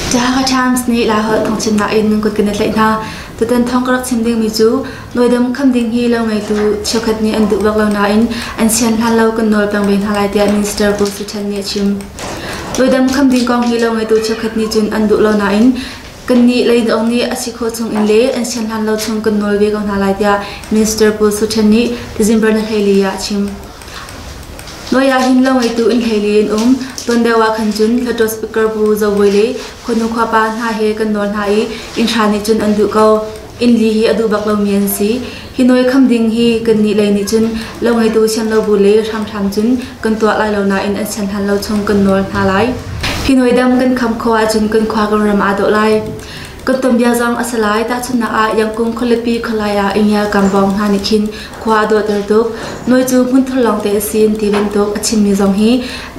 Jehovah Times nih Laiholh thawngchimnak in kuat kan i tlaih hna. Tutan thawng ka rak chim dingmi cu noidam kham ding hi lo ngeitu cheukhat nih an duh bak lo nain an sian hlan lo kan nawl peng ve hna lai tiah Minister Pu Su Chan nih a chim. Noidam kham ding kong hi lo ngeitu cheukhat nih cun an duh lo nain Kannih leidawk nih a si khawh chungin le an sian hlan lo chung kan nawl ve ko hna lai tiah Minister Pu Su Ṭhen nih December ni hleili ah a chim. Noi ah hin lo ngeitu in hleili in um ton deuh ah khan cun Hlatawt Speaker Pu Zo Bawi le Khuanu khuapa hna he kan nawl hna i inn hra nih cun an duh ko. Innli hi a duh bak lomi an si. Hi nawi kham ding hi kannih lei nih cun lo ngeitu sian lo bu le hranghrang cun kan tuah lai lo nain an sian hlan lo chung kan nawl hna lai. Hi nawi dam kan kham khawh ahcun kan khua kan ram aa dawh lai. Kan tom bia zong a si lai. Tahchunnak ah, Yangkung khualipi khualai ah Ingial Kambawng hna nih khin khua a dawhter tuk. Nawi cu hmun thur lawngte a si in ti bantuk a chimmi zong hi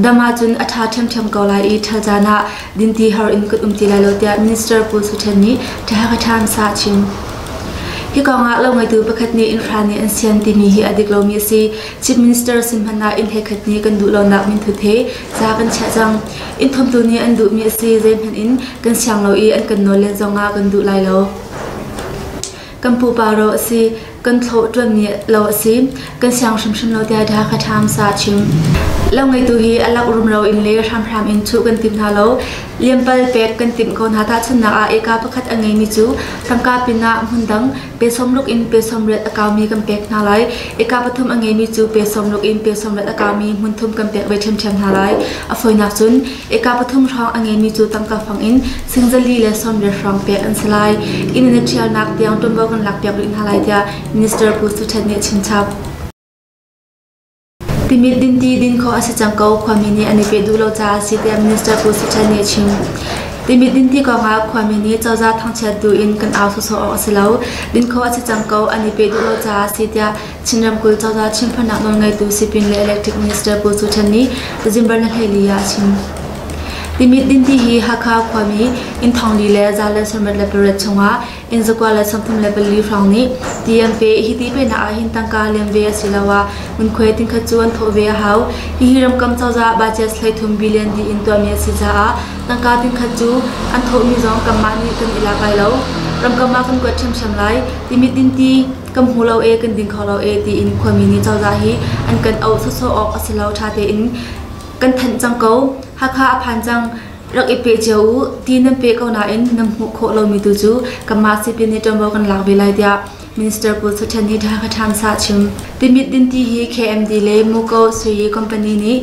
dam ahcun a ṭha ṭhiamṭhiam ko lai i ṭhal caan ah dinti har in kan um ti lai lo tiah Minister Pu Su Ṭhen nih Tehakathan sa a chim. Hi kongah lo ngeitu pakhat nih infra nih an sian timi hi a dik lomi a si. Chief Minister sin hmanh ah inn he khat nih kan duh lonak minthut he ca kan chiah cang. Inn thumtu nih an duhmi a si zeihmanh in kan siang lo i an kan nawl len zongah kan duh lai lo. Kan pupa ro a si. Kan thlawh ṭuanmi lo a si. Kan siang hrimhrim lo tiah Dha Khatham sa a chim. Lo ngeitu hi a lak rumro in le hramhram in chuh kan tim hna lo. Liampal pek kan timh ko hna. Tahchunhnak ah, eka pakhat a ngeimi cu tangka pinah hmundang pe sawmruk in pe sawmriat a kaumi kan pek hna lai. Eka pathum a ngeimi cu pe sawmruk in pe sawmriat a kaumi hmunthum kan pek ve ṭhiamṭhiam hna lai. A fawinak cun Eka pathum hrawng a ngeimi cu tangka fang in singzali le sawmriat hrawng pek an si lai. Inn in a ṭhialnak tiang ṭuanvo kan lak piak rih hna lai tiah Minister Pu Su Ṭhet nih a chimchap. Timit dinti din khawh a si cang ko, khuami nih an i peh duh lo caah a si tiah Minister Pu Su Ṭhet nih a chim. Timit dinti kongah khuami nih cozah thangchiat tu in kan au sawsawh awk a si lo. Din khawh a si cang ko, an i peh duh lo caah a si tiah Chin ramkulh cozah Chin Farnak nawlngeitu Sipin le Electric Minister Pu Su Chan nih Zimbar Nahleli ah a chim. Timit Dinti hi Hakha khuami inn thongli le za le sarmat le pariat chungah inn zakua le samthum le pali hrawng nih TMP hi ti penak ah hin tangka lem ve asiloah ngunkhuai tingkhat cu an thawh ve a hau. Hihi ramkam cozah budget thleithum billion di in tuahmi a si caah tangka tingkhat cu an thawhmi zong kanmah nih kan i lak lai lo. Ramkam ah kan kuat ṭhiamṭhiam lai. Timit Dinti kan hmu lo e kan ding kho lo e tiin khuami nih cozah hi an kan auh sawsawh awk a si lo ṭha tein kan thanh cang ko Hakha a phan cang rak i pe cio u ti nan pe ko nain nan hmuh khawh lomi tu cu kanmah sipin nih ṭuanvo kan lak ve lai tiah Minister Pu Suthen nih Hakha Times ah chim timit dinti hi KMD le Muko Sui company nih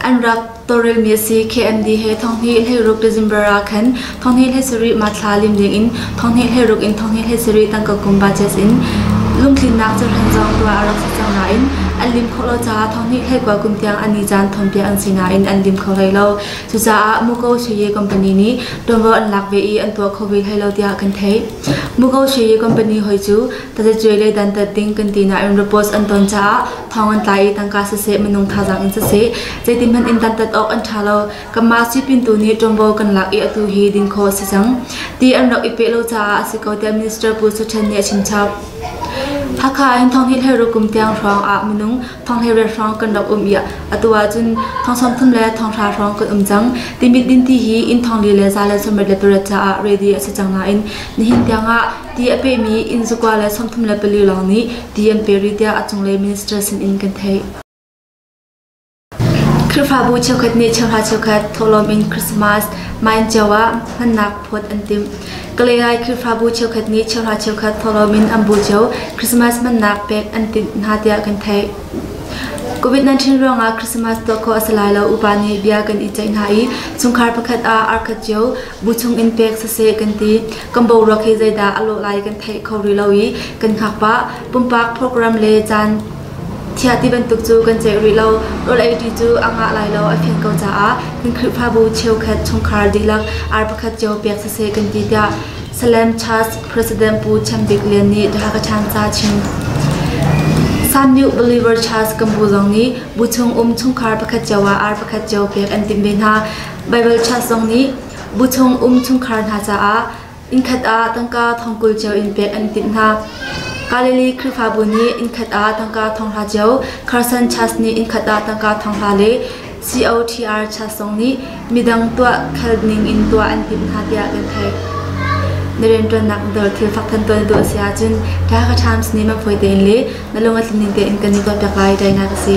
an rak Tawlrelmi a si. KMD he Thonghnih hleiruk December ah khan Thonghnih hleisarih Mathla lim dingin Thonghnih hleiruk in Thonghnih hleisarih tangka kum budgets in lungtlinnak carhan zong tuah a rak si cang nain an lim khawh lo caah Thonghnih hleikua kum tiang an i caan thawnpiak an si nain an lim kho hlei lo. Cucaah Muko Sheye company nih tuanvo an lak ve i an tuah kho ve hlei lo tiah kan theih. Muko Sheye company hoi cu Tazacuai le dantat ding kan ti nain repose an ton caah thawng an tlai i tangka siseh minung thazaang in siseh zeitihmanh in dantat awk an ṭha lo. Kanmah sui pintu nih ṭuanvo kan lak i atu hi din khawh a si cang ti an rak i peh lo caah a si ko tiah Minister Pu Su Ṭhen nih a chim chap. Hakha ahhin thong hi hleru kum tiang hrawng ah minung thong hlei riat hrawng kan rak um i atu ahcun thong sawmthum le thong hra hrawng kan um cang. Timit din ti hi inn thong li le za le sawmrit le pariat caah ready a si cang nain nihin tiangah Ti a pemi inn zakua le sawmthum le pali lawng nih ti an pe rih tiah a cunglei minister sinin kan theih. Khrihfabu cheukhat nih cheuhra cheukhat thawhlawm in Christmas main cio ah hmannak phawt an timh. Kalay Khrihfabu cheukhat nih cheuhra cheukhat thawhlawm in an bu cio Christmas hmannak pek an timh hna tiah kan theih. Covid-19 ruangah Christmas tuah khawh a si lai lo upa nih bia kan i ceih hna i chungkhar pakhat ah arkhat cio bu chungin pek siseh kan ti. Kan boruak hi zeidah a lawh lai kan theih kho rih lo i kan hngak pah. Pumpak program le caan thiah ti bantuk cu kan ceih rih lo. Rawlei cu a ngah lai lo a fian ko caah kan Khrihfabu cheukhat chungkhar dihlak ar pakhat cio pek siseh kan ti tiah Salem Church President Pu Chem Bik Lian nih The Hakachan ca chim. San New Believer Church kan bu zong nih bu chung um chungkhar pakhat cio ah ar pakhat cio pek an timh ve hna. Baibal chan zong nih bu chung um chungkhar hna caah innkhat ah tangka thongkul cio in pek an timh hna. Galilee Khrihfabu nih innkhat ah tangka thonghla cio, Carson Church nih innkhat ah tangka thonghla le COTR Church zong nih midang tuah khal ning in tuah an timh hna tiah kan theih. Na rianṭuannak dor thil fak than tuan tu a si ahcun Tha Ka Times nih man fawi tein le na lung a tlin ning tein kan i kawlpiak lai dai na ka si.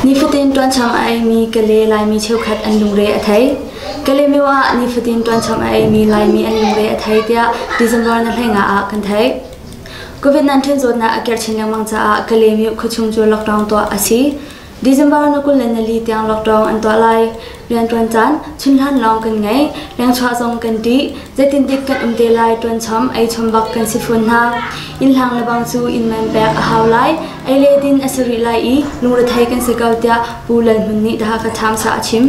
Nifatin tuancham a eimi kale Laimi cheukhat an lungre a thei. Kale myo ah nifatin tuancham a eimi Laimi an lungre a thei tiah December na hlenga ah kan theih. COVID-19 zawtnak a kerchin lengmang caah kale myo khuachung cu lockdown tuah a si. December na kul le nali tiang lockdown an tuah lai. Rian tuan caan chunhlan lawng kan ngei. Lengchuah zong kan tih. Zeitintik kan um te lai tuan chom ei chom bak kan si fawn hna. Inn hlang lebang cu inn man pek a hau lai. Ei le din a si rih lai i lungrethei kan si ko tiah Pu Lal Hmun nih daha ka tham sa a chim.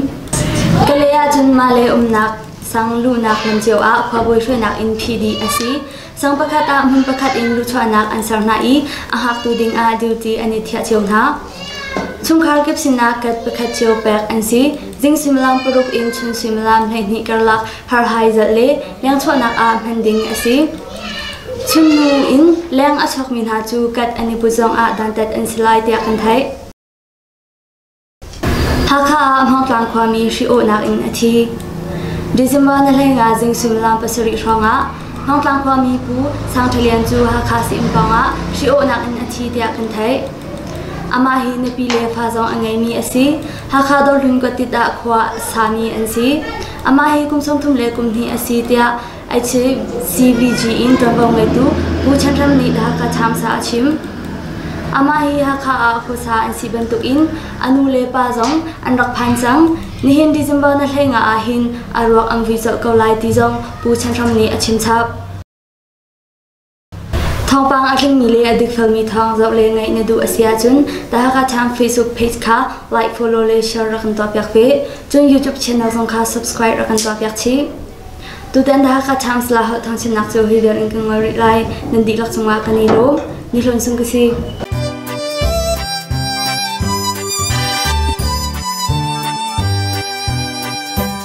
Ka le ahcun mah le umnak sang luhnak lam cio ah khua buai hruainak inn phi dih a si. Sang pakhat ah hmun pakhat in luchuahnak an ser hna i a hngaktu dingah duty an i thiah cio hna. Chungkhar kip sinah kat pakhat cio pek an si. Zing suimilam paruk in chun suimilam hleihnih karlak harhai zalh le lengchuahnak ah hman ding a si. Chimnu in leng a chuakmi hna cu kat an i put zongah dantat an si lai tiah kan theih. Hakha ah Hmawngtlang khuami hri-awhnak in a thi. December ni hleingah zing suimilam pasarih hrawngah Hmawngtlang khuami Pu Sang Ṭha Lian cu Hakha Sii-inn pawngah hri-awhnak in a thi tiah kan theih. Amah hi nupi le fa zong a ngeimi a si. Hakha Dawrhlun kuattit ah khua sami an si. Amah hi kum sawm thum le kum hnih a si tiah CVG in ṭuanvo ngeitu Pu Chan Ram nih Dhaka Times ah a chim. Amah hi Hakha ah khuasa an si bantukin a nu le pa zong an rak phan cang. Nihin December na hleinga ahhin a ruak an vui colh ko lai ti zong Pu Chan Ram nih a chimchap. Thawngpang a tlingmi le a dikfelmi thawng zoh le ngaih na duh a si ahcun The Hakha Times Facebook page kha like, follow le share rak kan tuahpiak ve. Cun YouTube channel zong kha subscribe rak kan tuahpiak chih. Tutan The Hakha Times la holh thangchimnak cu hi vial in kan ngol rih lai. Nan dihlak cungah kan i lawm. Ni hlun sung ka si.